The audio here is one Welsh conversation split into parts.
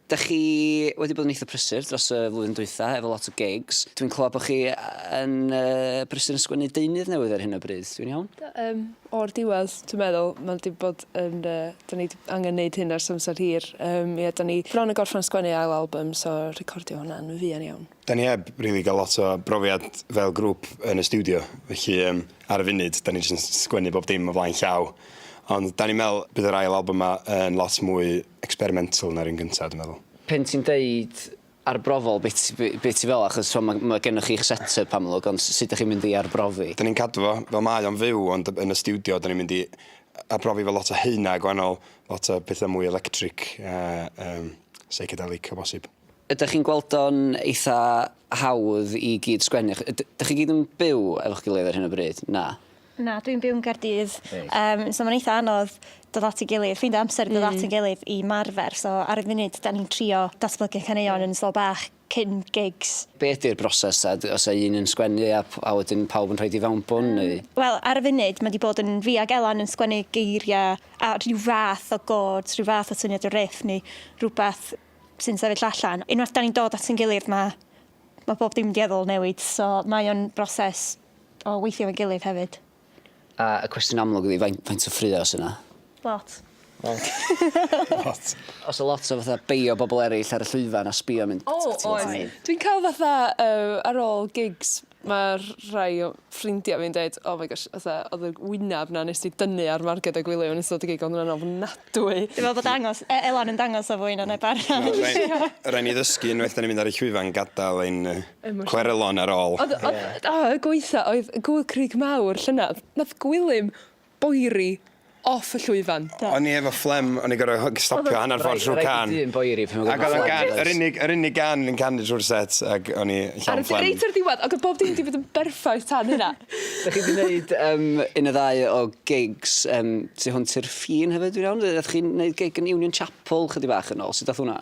Dach chi wedi bod yn eitha prysur dros y flwyddyn dwytha, efo lot o gigs. Dwi'n clywed bod chi yn uh, brysur yn sgwennu deunydd newydd ar hyn o bryd, dwi'n iawn? Um, o'r diwedd, dwi'n meddwl, mae wedi bod yn... Uh, da ni angen neud hyn ar samser hir. Um, yeah, da ni bron yn gorffen sgwennu ail album, so recordio hwnna yn fuan iawn. Da ni heb rili really gael lot o brofiad fel grŵp yn y studio, felly um, ar y funud, da ni jyst yn sgwennu bob dim o flaen llaw. Ond da ni'n meddwl bydd yr ail album yma yn lot mwy experimental na'r un gynta, dwi'n meddwl. Pen ti'n deud arbrofol, be ti, be, be ti fel? Achos mae ma gennych chi'ch set-up amlwg, ond sut ydych chi'n mynd i arbrofi? Da ni'n cadw fo fel mae o'n fyw, ond yn y studio, da ni'n mynd i arbrofi fel lot o heina gwahanol, lot o pethau mwy electric a um, psychedelic o bosib. Ydych chi'n gweld o'n eitha hawdd i gyd sgwennu? Ydych chi gyd yn byw efo'ch gilydd ar hyn o bryd? Na. Na dwi'n byw yn Gaerdydd. Reit. Yym so ma'n eitha anodd dod at 'i gilydd ffeindio amser i dod at 'yn gilydd i 'marfer so ar y funud 'dan ni'n trio datblygu caneuon yn ystol bach cyn gigs. Be' ydi'r broses ta d- o's 'a un yn sgwennu a p- a wedyn pawb yn rhoid 'i fewnbwn neu? Wel ar y funud ma' 'di bod yn fi ag Elan yn sgwennu geiria' a rhyw fath o gôds rhyw fath o syniad o riff neu rwbath sy'n sefyll allan. Unwaith 'dan ni'n dod at 'yn gilydd ma' ma' bob dim dueddol newid so mae o'n broses O weithio efo'n gilydd hefyd. A y cwestiwn amlwg ydi faint faint o ffraeo sy 'na? Lot. Lot. Lot. O's 'na lot o fatha beio bobol eryll ar y llwyfan a sbio a mynd... O oes. Dwi'n ca'l fatha yy ar ôl gigs ma' rhai o ffrindia fi'n deud oh my gosh fatha odd y wynab 'na nes di dynnu ar Marged a Gwilym yn ystod y gig odd o'n ofnadwy. Dwi me'wl bod dangos e- Elan yn dangos o fwy na neb arall. Rai' ni ddysgu unwaith 'dan ni'n mynd ar y llwyfan gadal ein yy Clerelon ar ôl. Ond o'dd o y gwaetha oedd gŵyl crug mawr llynedd. Nath Gwilym boeri off y llwyfan. Do. O'n i efo fflem o'n i gor'o' ho- g- stopio hannar ffordd trw'r cân. Raid i dyn boeri pan ma' gynno fo fflem does? Ag o'dd o'n gân yr unig yr unig gân o'n i'n canu trw'r set ag o'n i llawn fflem. Ar y reit ar y diwedd ag o'dd bob dim 'di bod yn berffaith tan hynna. Dach chi 'di neud yym un ne' ddau o gigs yym tu hwnt i'r ffin hefyd dwi'n iawn? Yy o'ch chi'n neud gig yn Union Chapel chydig bach yn ôl sud dath wnna?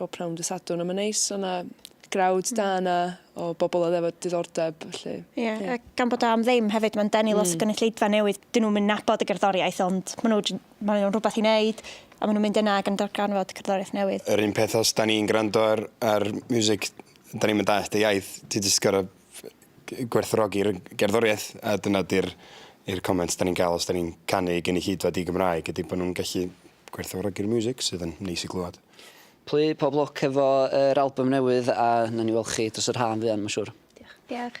Bob pnawn dy Sadwrn a mae'n neis, o' 'na grawd da hmm. yna o bobl oedd efo diddordeb, felly... Ie, yeah. yeah. gan bod o am ddim hefyd, mae'n denu mm. lot o hmm. gynulleidfa newydd. Dyn nhw'n mynd nabod y gerddoriaeth, ond maen nhw'n ma nhw rhywbeth i wneud, a maen nhw'n mynd yna ac yn darganfod cerddoriaeth newydd. Yr un peth os da ni'n gwrando ar, ar music, da ni'n mynd allt y iaith, ti jyst gorau gwerthrogi'r gerddoriaeth, a dyna di'r comment da ni'n cael os da ni'n canu gynulleidfa di Gymraeg, ydy bod nhw'n gallu Gwerthfawrogi'r miwsig sydd yn neis i glywed. Pli, pob lwc efo yr albym newydd a nawn ni weld chi dros yr haf yn fuan ma' siŵr. Diolch. Diolch.